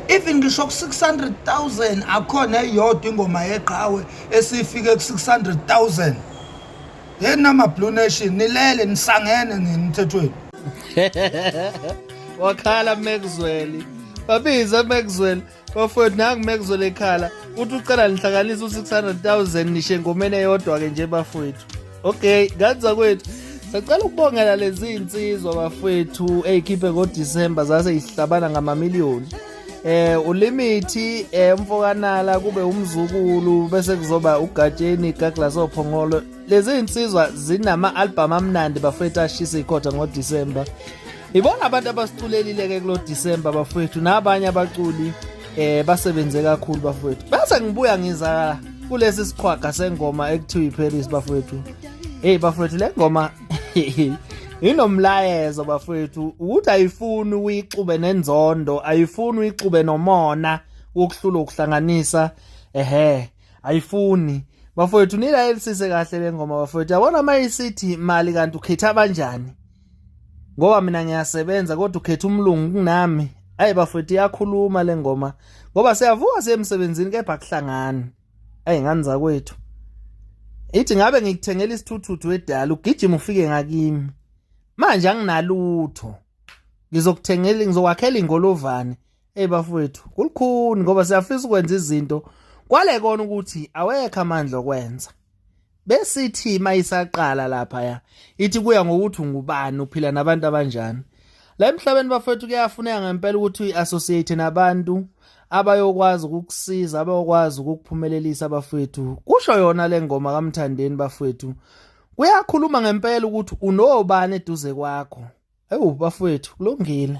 even ngisho ku-600000 akhona eyodwa ingoma yeqhawe esifike ku-600000 yeni namablue nation nilele nisangene nini mthethweni wakhala mekuzweli babize mekuzweli bafowethu nangu mekuzole ekhala uthi ucela nihlanganise u-600000 nishe engomeni eyodwa-ke nje bafowethu okay kanza kwethu sacela ukubongela lezi insizwa bafowethu eyikhiphe ngodisemba zase yihlabana ngamamiliyoni eh ulimithi eh umfokanala kube umzukulu bese kuzoba ugatsheni gagla sophongolo lezi insizwa zinama album amnandi bafethu ashisa ikhotha ngoDecember Ibona abantu abasiculelile ke kulo December bafowethu nabanye abaculi eh basebenze kakhulu bafowethu. Base ngibuya ngiza kulesi siqhwaga sengoma ekuthiwa iParis bafowethu. Hey bafowethu le ngoma inomlayezo bafowethu ukuthi ayifuni uyixube nenzondo, ayifuni uyixube nomona wokuhlula ukuhlanganisa ehe ayifuni bafowethu nilayelisise kahle le ngoma bafowethu yabona uma isithi mali kanti ukhetha abanjani ngoba mina ngiyasebenza kodwa ukhetha umlungu kunami ayi bafethu iyakhuluma le ngoma ngoba siyavuka siye emsebenzini kepha kuhlangani ayi ngani zakwethu ithi ngabe ngikuthengela isithuthuthu wedala ugijima ufike ngakimi manje anginalutho ngizokuthengela ngizokwakhela ingolovane hey bafowethu kulukhuni ngoba siyafisa ukwenza izinto kwale kona ukuthi awekho amandla okwenza besithi uma isaqala laphaya ithi kuya ngokuthi ungubani uphila nabantu abanjani la emhlabeni bafethu kuyafuneka ngempela ukuthi uyi-associate nabantu abayokwazi ukukusiza abayokwazi ukukuphumelelisa bafethu kusho yona le ngoma kamthandeni bafethu kuyakhuluma ngempela ukuthi unobani eduze kwakho ewu bafethu kulungile